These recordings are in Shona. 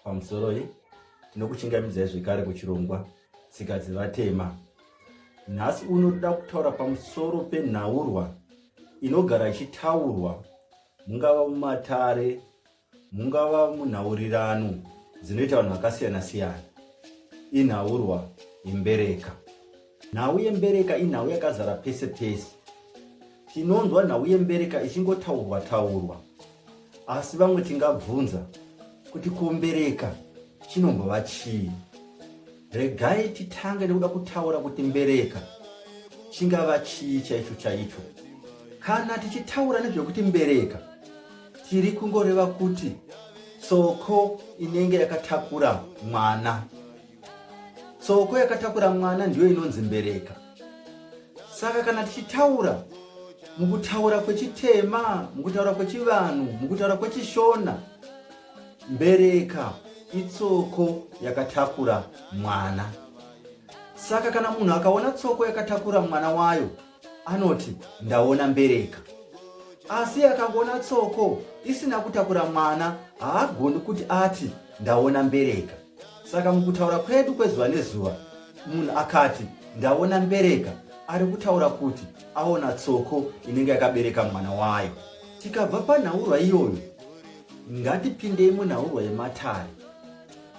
Pamusoroi, tinokuchingamidzai zvekare kuchirongwa Tsika dzeVatema. Nhasi uno toda kutaura pamusoro penhaurwa inogara ichitaurwa mungava mumatare, mungava munhaurirano dzinoita vanhu vakasiyana-siyana. Inhaurwa yembereka. Nhau yembereka inhau yakazara pese pese. Tinonzwa nhau yembereka ichingotaurwa taurwa. Asi vamwe tingabvunza kuti kombereka chinombova chii? Regai titange nekuda kutaura kuti mbereka chingava chii chaicho chaicho. Kana tichitaura nezvekuti mbereka tiri kungoreva kuti tsoko inenge yakatakura mwana. tsoko yakatakura mwana ndiyo inonzi mbereka saka kana tichitaura mukutaura kwechitema mukutaura kwechivanhu mukutaura kwechishona mbereka itsoko yakatakura mwana saka kana munhu akaona tsoko yakatakura mwana wayo anoti ndaona mbereka asi akangoona tsoko isina kutakura mwana haagoni kuti ati ndaona mbereka saka mukutaura kwedu kwezuva nezuva munhu akati ndaona mbereka ari kutaura kuti aona tsoko inenge yakabereka mwana wayo tikabva panhaurwa iyoyo ngatipindei munhaurwa yematare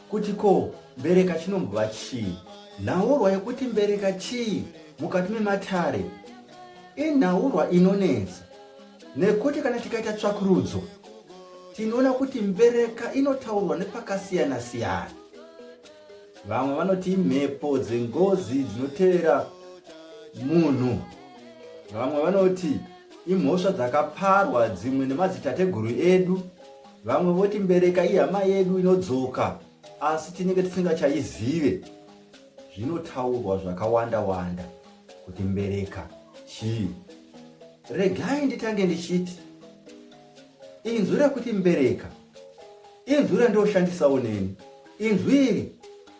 kuti ko mbereka chinombova chii nhaurwa yekuti mbereka chii mukati mematare inhaurwa inonetsa Nekuti kana tikaita tsvakurudzo tinoona kuti mbereka inotaurwa nepakasiyana siyana. Vamwe vanoti imhepo dzengozi dzinotevera munhu. Vamwe vanoti imhosva dzakaparwa dzimwe nemadzitateguru edu. Vamwe voti mbereka ihama yedu inodzoka asi tinenge tisingachaizive. zvinotaurwa zvakawanda wanda kuti mbereka chii regai nditange ndichiti inzwi rekuti mbereka inzwi randoshandisawo neni inzwi iri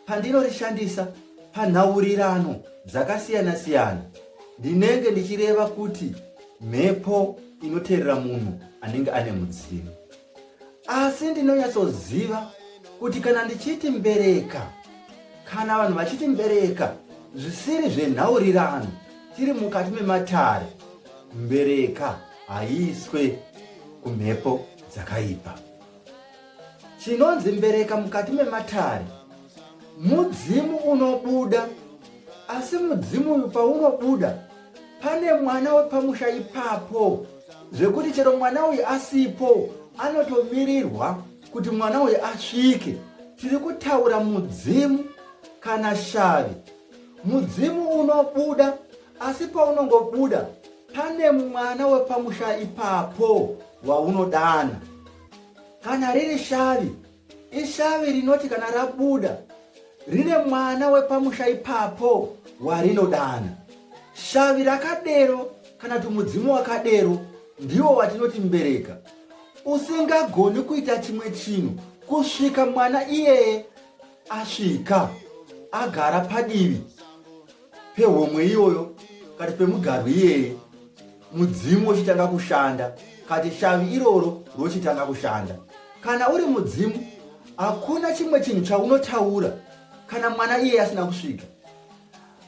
pandinorishandisa panhaurirano dzakasiyana siyana ndinenge ndichireva kuti mhepo inoteerera munhu anenge ane mudzimu asi ndinonyatsoziva kuti kana ndichiti mbereka kana vanhu vachiti mbereka zvisiri zvenhaurirano tiri mukati mematare mbereka haiiswe kumhepo dzakaipa chinonzi mbereka mukati mematare mudzimu unobuda asi mudzimu uyu paunobuda pane mwana wepamusha ipapo zvekuti chero mwana uyu asipo anotomirirwa kuti mwana uyu asvike tiri kutaura mudzimu kana shavi mudzimu unobuda asi paunongobuda pane mwana wepamusha ipapo waunodana kana riri shavi Ishavi rinoti kana rabuda rine mwana wepamusha ipapo warinodana shavi rakadero kana kuti mudzimu wakadero ndiwo watinoti mbereka usingagoni kuita chimwe chinhu kusvika mwana iyeye asvika agara padivi pehomwe iyoyo kati pemugarwi iyeye mudzimu wochitanga kushanda kati shavi iroro rochitanga kushanda kana uri mudzimu hakuna chimwe chinhu chaunotaura kana mwana iye asina kusvika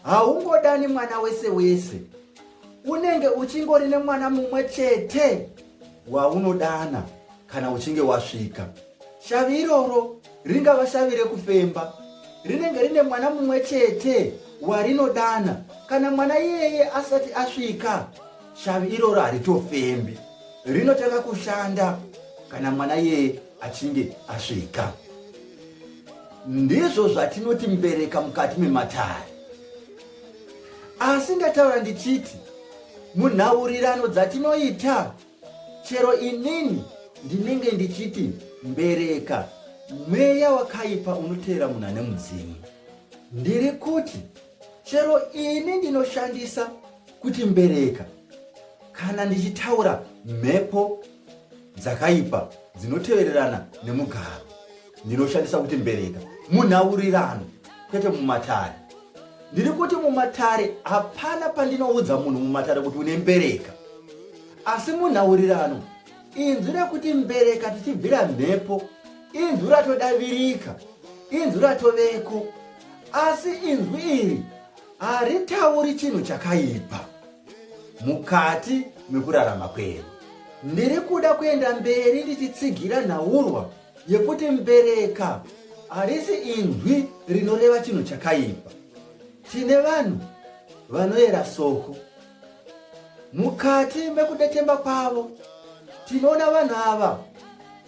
haungodani mwana wese wese unenge uchingori nemwana mumwe chete waunodana kana uchinge wasvika shavi iroro ringava shavi rekufemba rinenge rine mwana mumwe chete warinodana kana mwana iyeye asati asvika shavi iroro haritofembi rinotanga kushanda kana mwana iyeye achinge asvika ndizvo zvatinoti mbereka mukati mematare asi ndataura ndichiti munhaurirano dzatinoita Chero inini ndinenge ndichiti mbereka mweya wakaipa unoteera munhu ane mudzimu. Ndiri kuti chero ini ndinoshandisa kuti mbereka kana ndichitaura mhepo dzakaipa dzinotevererana nemugaro. ndinoshandisa kuti mbereka munhaurirano kwete mumatare ndiri kuti mumatare hapana pandinoudza munhu mumatare kuti une mbereka asi munhaurirano inzwi rekuti mbereka tichibvira mhepo inzwi ratodavirika inzwi ratoveko asi inzwi iri haritauri chinhu chakaipa mukati mekurarama kwedu ndiri kuda kuenda mberi ndichitsigira nhaurwa yekuti mbereka harisi inzwi rinoreva chinhu chakaipa tine vanhu vanoyera soko mukati mekudetemba kwavo tinoona vanhu ava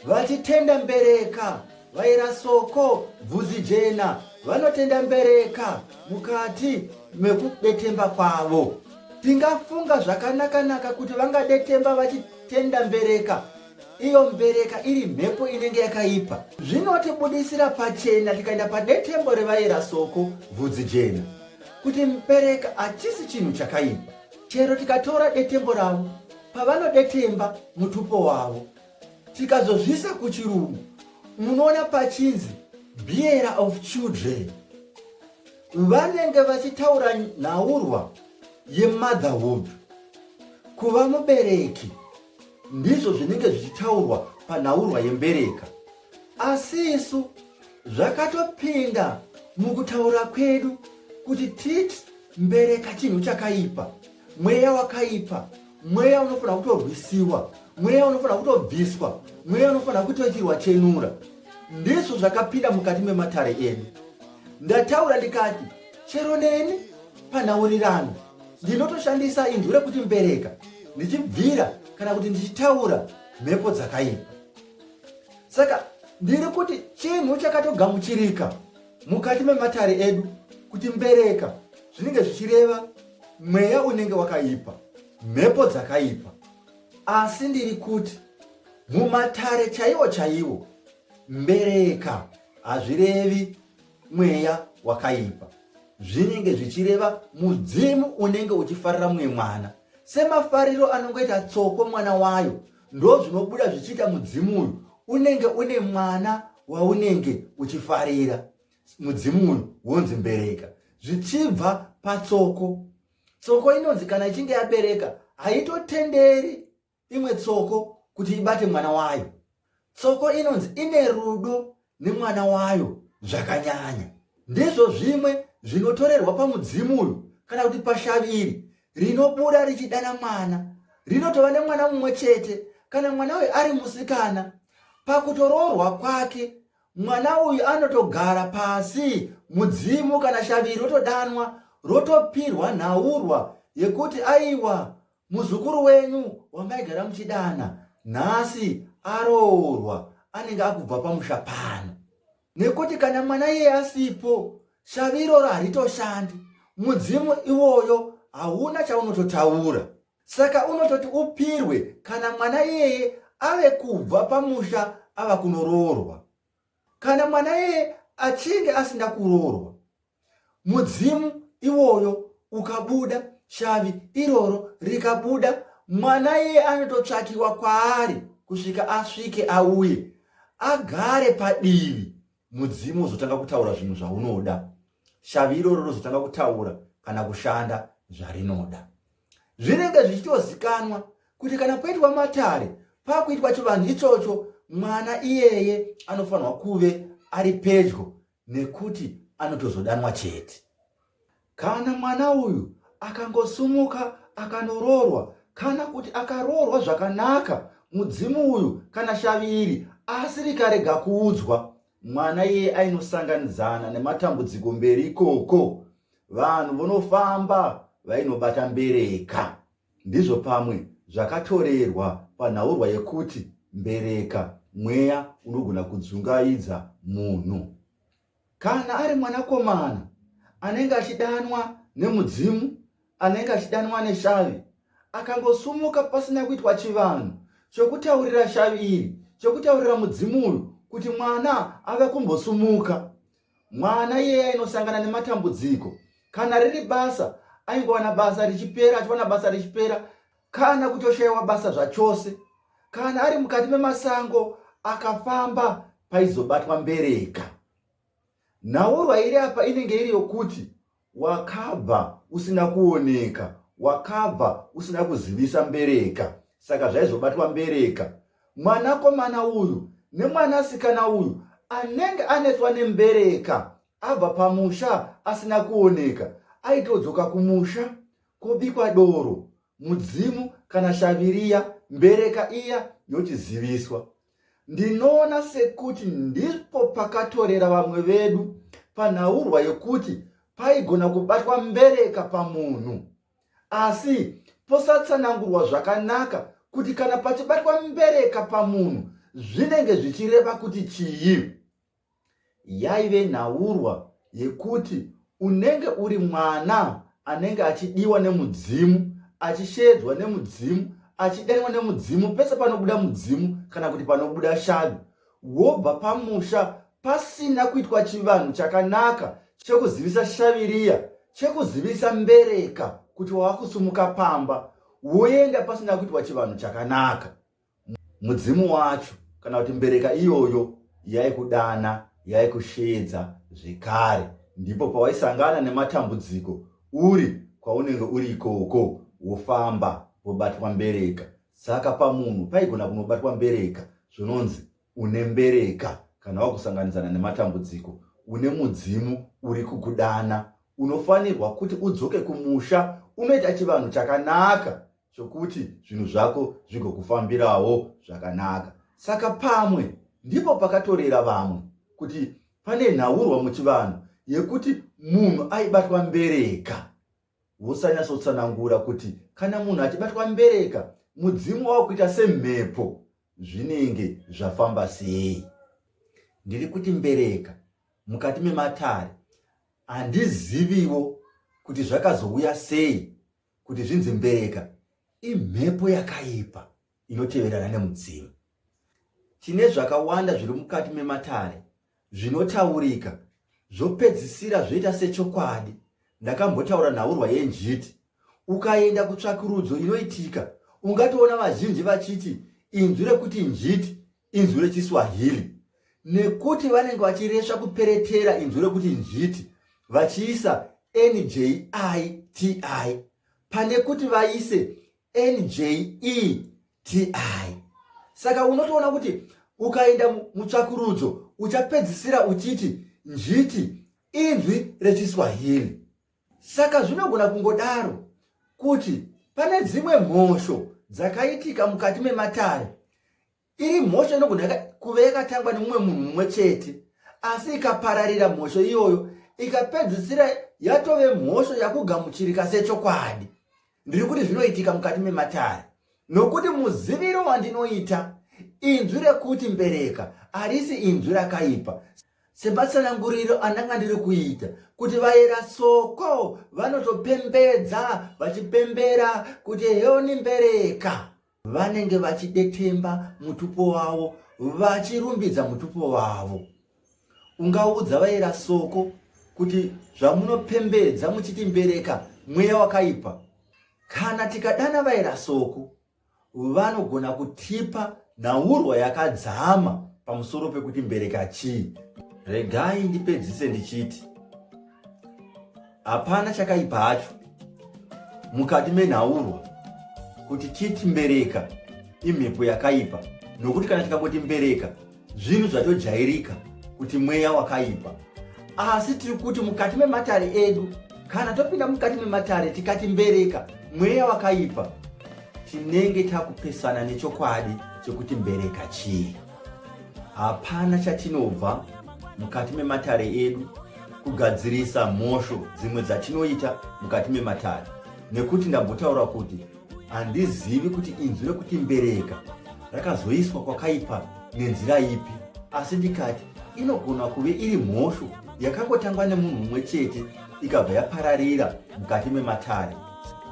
vachitenda mbereka vaira soko bvudzi jena vanotenda mbereka mukati mekudetemba kwavo tingafunga zvakanakanaka kuti vangadetemba vachitenda mbereka iyo mbereka iri mhepo inenge yakaipa zvinotibudisira pachena tikaenda padetembo revaera soko vhudzi jena kuti mbereka hachisi chinhu chakaipa chero tikatora detembo ravo pavanodetemba mutupo wavo tikazozvisa kuchirungu munoona pachinzi beera of children vanenge vachitaura nhaurwa yemotherhood kuva mubereki ndizvo zvinenge zvichitaurwa panhaurwa yembereka asi isu zvakatopinda mukutaura kwedu kuti titi mbereka chinhu chakaipa mweya wakaipa mweya unofanira kutorwisiwa mweya unofanira kutobviswa mweya unofanira kutoitirwa chenura ndizvo zvakapinda mukati mematare edu ndataura ndikati chero neni panhaurirano ndinotoshandisa inzwi rekuti mbereka ndichibvira kana kuti ndichitaura mhepo dzakaipa saka ndiri kuti chinhu chakatogamuchirika mukati mematare edu kuti mbereka zvinenge zvichireva mweya unenge wakaipa mhepo dzakaipa asi ndiri kuti mumatare chaiwo chaiwo mbereka hazvirevi mweya wakaipa zvinenge zvichireva mudzimu unenge uchifarira mumwe mwana semafariro anongoita tsoko mwana wayo ndo zvinobuda zvichiita mudzimu uyu unenge une mwana waunenge uchifarira mudzimu uyu wonzi mbereka zvichibva patsoko tsoko inonzi kana ichinge yabereka haitotenderi imwe tsoko kuti ibate mwana wayo tsoko inonzi ine rudo nemwana wayo zvakanyanya ndizvo zvimwe zvinotorerwa pamudzimu uyu kana kuti pashavi iri rinobuda richidana mwana rinotova nemwana mumwe chete kana mwana uyu ari musikana pakutoroorwa kwake mwana uyu anotogara pasi mudzimu kana shavi iri rotodanwa rotopirwa nhaurwa yekuti aiwa Muzukuru wenyu wamaigara muchidana nhasi aroorwa anenge akubva pamusha pano. Nekuti kana mwana iye asipo shavi iroro haritoshandi. Mudzimu iwoyo hauna chaunototaura. Saka unototi upirwe kana mwana iyeye ave kubva pamusha ava kunoroorwa. Kana mwana iyeye achinge asina kuroorwa mudzimu iwoyo ukabuda shavi iroro rikabuda mwana iye anototsvakiwa kwaari kusvika asvike auye agare padivi mudzimu uzotanga kutaura zvinhu zvaunoda shavi iroro rozotanga kutaura kana kushanda zvarinoda zvinenge zvichitozikanwa kuti kana kuitwa matare pakuitwa chivanhu ichocho mwana iyeye anofanirwa kuve ari pedyo nekuti anotozodanwa chete kana mwana uyu akangosumuka akanoroorwa kana kuti akaroorwa zvakanaka mudzimu uyu kana shavi iri asi rikarega kuudzwa mwana iye ainosanganidzana nematambudziko mberi ikoko vanhu vonofamba vainobata mbereka Ndizvo pamwe zvakatorerwa panhaurwa yekuti mbereka, mweya unogona kudzungaidza munhu. Kana ari mwanakomana anenge achidanwa nemudzimu, anenge achidanwa neshavi, akangosumuka pasina kuitwa chivanhu chokutaurira shavi iri, chokutaurira mudzimu uyu kuti mwana ave kumbosumuka. Mwana iyeye ainosangana nematambudziko. Kana riri basa, aingowana basa richipera, achiwana basa richipera, kana kutoshaiwa basa zvachose. Kana ari mukati memasango, akafamba paizobatwa mbereka. Nhaurwa iri apa inenge iri yokuti Wakabva usina kuoneka, wakabva usina kuzivisa mbereka, saka zvaizobatwa mbereka. Mwanakomana uyu nemwanasikana uyu anenge anetswa nembereka abva pamusha asina kuoneka, aitodzoka kumusha kobikwa doro, mudzimu kana shaviriya, mbereka iya yochiziviswa. Ndinoona sekuti ndipo pakatorera vamwe vedu panhaurwa yokuti paigona kubatwa mbereka pamunhu asi posatsanangurwa zvakanaka kuti kana pachibatwa mbereka pamunhu zvinenge zvichireva kuti chii Yaive nhaurwa yekuti unenge uri mwana anenge achidiwa nemudzimu, achisheedzwa nemudzimu, achidaiwa nemudzimu pese panobuda mudzimu kana kuti panobuda shavi, wobva pamusha pasina kuitwa chivanhu chakanaka chekuzivisa shavi riya, chekuzivisa mbereka kuti wakusumuka pamba, woenda pasina kuitwa chivanhu chakanaka. mudzimu wacho kana kuti mbereka iyoyo yaikudana yaikusheedza zvekare ndipo pawaisangana nematambudziko uri kwaunenge uri ikoko wofamba wobatwa mbereka saka pamunhu paigona kunobatwa mbereka zvinonzi une mbereka kana wakusanganidzana nematambudziko une mudzimu uri kukudana unofanirwa kuti udzoke kumusha unoita chivanhu chakanaka chokuti zvinhu zvako zvigokufambirawo zvakanaka saka pamwe ndipo pakatorera vamwe kuti pane nhaurwa muchivanhu yekuti munhu aibatwa mbereka wosanyatsotsanangura kuti kana munhu achibatwa mbereka mudzimu wava kuita semhepo zvinenge zvafamba sei ndiri kuti mbereka mukati mematare handiziviwo kuti zvakazouya sei kuti zvinzi mbereka imhepo yakaipa inoteverana nemudzimu tine zvakawanda zviri mukati mematare zvinotaurika zvopedzisira zvoita sechokwadi ndakambotaura nhaurwa yenjiti ukaenda kutsvakurudzo inoitika ungatoona vazhinji vachiti inzwi rekuti njiti inzwi rechiswahili nekuti vanenge vachiresva kuperetera inzwi rekuti njiti vachiisa njiti pane kuti vaise njeti saka unotoona kuti ukaenda mutsvakurudzo uchapedzisira uchiti njiti inzwi rechiswahili Saka zvinogona kungodaro kuti pane dzimwe mhosho dzakaitika mukati mematare iri mhosho inogona kuve yakatangwa nemumwe munhu mumwe chete asi ikapararira mhosho iyoyo ikapedzisira yatove mhosho yakugamuchirika sechokwadi ndiri kuti zvinoitika mukati mematare nokuti muziviro wandinoita inzwi rekuti mbereka harisi inzwi rakaipa sematsananguriro andanga ndiri kuita kuti vayera soko vanotopembedza vachipembera kuti heoni mbereka vanenge vachidetemba mutupo wavo vachirumbidza mutupo wavo ungaudza vayera soko kuti zvamunopembedza muchiti mbereka mweya wakaipa kana tikadana vayera soko vanogona kutipa nhaurwa yakadzama pamusoro pekuti mbereka chii. Regai ndipedzise ndichiti hapana chakaipa hacho mukati menhaurwa kuti titi mbereka imhepo yakaipa nokuti kana tikangoti mbereka zvinhu zvatojairika kuti mweya wakaipa asi tiri kuti mukati mematare edu kana topinda mukati mematare tikati mbereka mweya wakaipa tinenge takupesana nechokwadi chekuti mbereka chii hapana chatinobva mukati mematare edu kugadzirisa mhosho dzimwe dzatinoita mukati mematare nekuti ndambotaura kuti Handizivi kuti inzwi rekuti mbereka rakazoiswa kwakaipa nenzira ipi, asi ndikati inogona kuve iri mhosho yakangotangwa nemunhu mumwe chete ikabva yapararira mukati mematare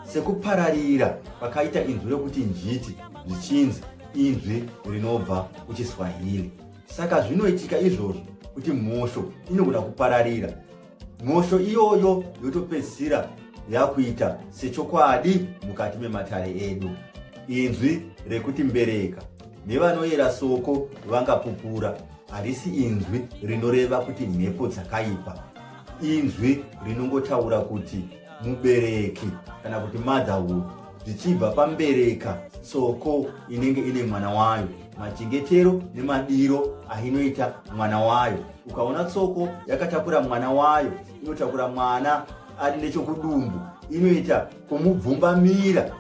sekupararira kwakaita inzwi rekuti njiti zvichinzi inzwi rinobva kuchiswahili saka zvinoitika izvozvo kuti mhosho inogona kupararira mhosho iyoyo yotopedzisira yakuita sechokwadi mukati mematare edu inzwi rekuti mbereka nevanoyera soko vangapupura harisi inzwi rinoreva kuti mhepo dzakaipa inzwi rinongotaura kuti mubereki kana kuti motherhood zvichibva pambereka soko inenge ine mwana wayo machengetero nemadiro ainoita mwana wayo ukaona tsoko yakatakura mwana wayo inotakura mwana ari nechokudumbu inoita kumubvumbamira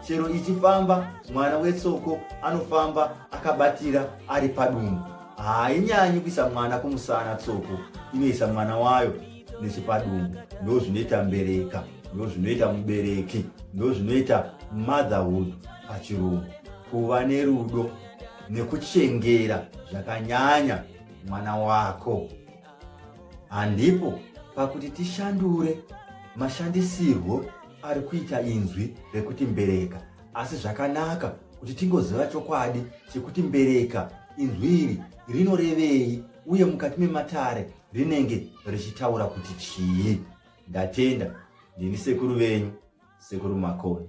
chero ichifamba mwana wetsoko anofamba akabatira ari padumbu hainyanyi kuisa mwana kumusana tsoko inoisa mwana wayo nechipadumbu ndo zvinoita mbereka ndo zvinoita mubereki ndo zvinoita motherhood pachirungu kuva nerudo nekuchengera zvakanyanya mwana wako handipo pakuti tishandure mashandisirwo ari kuita inzwi rekuti mbereka asi zvakanaka kuti tingoziva chokwadi chekuti mbereka inzwi iri rinorevei uye mukati mematare rinenge richitaura kuti chii ndatenda ndini sekuru venyu sekuru makoni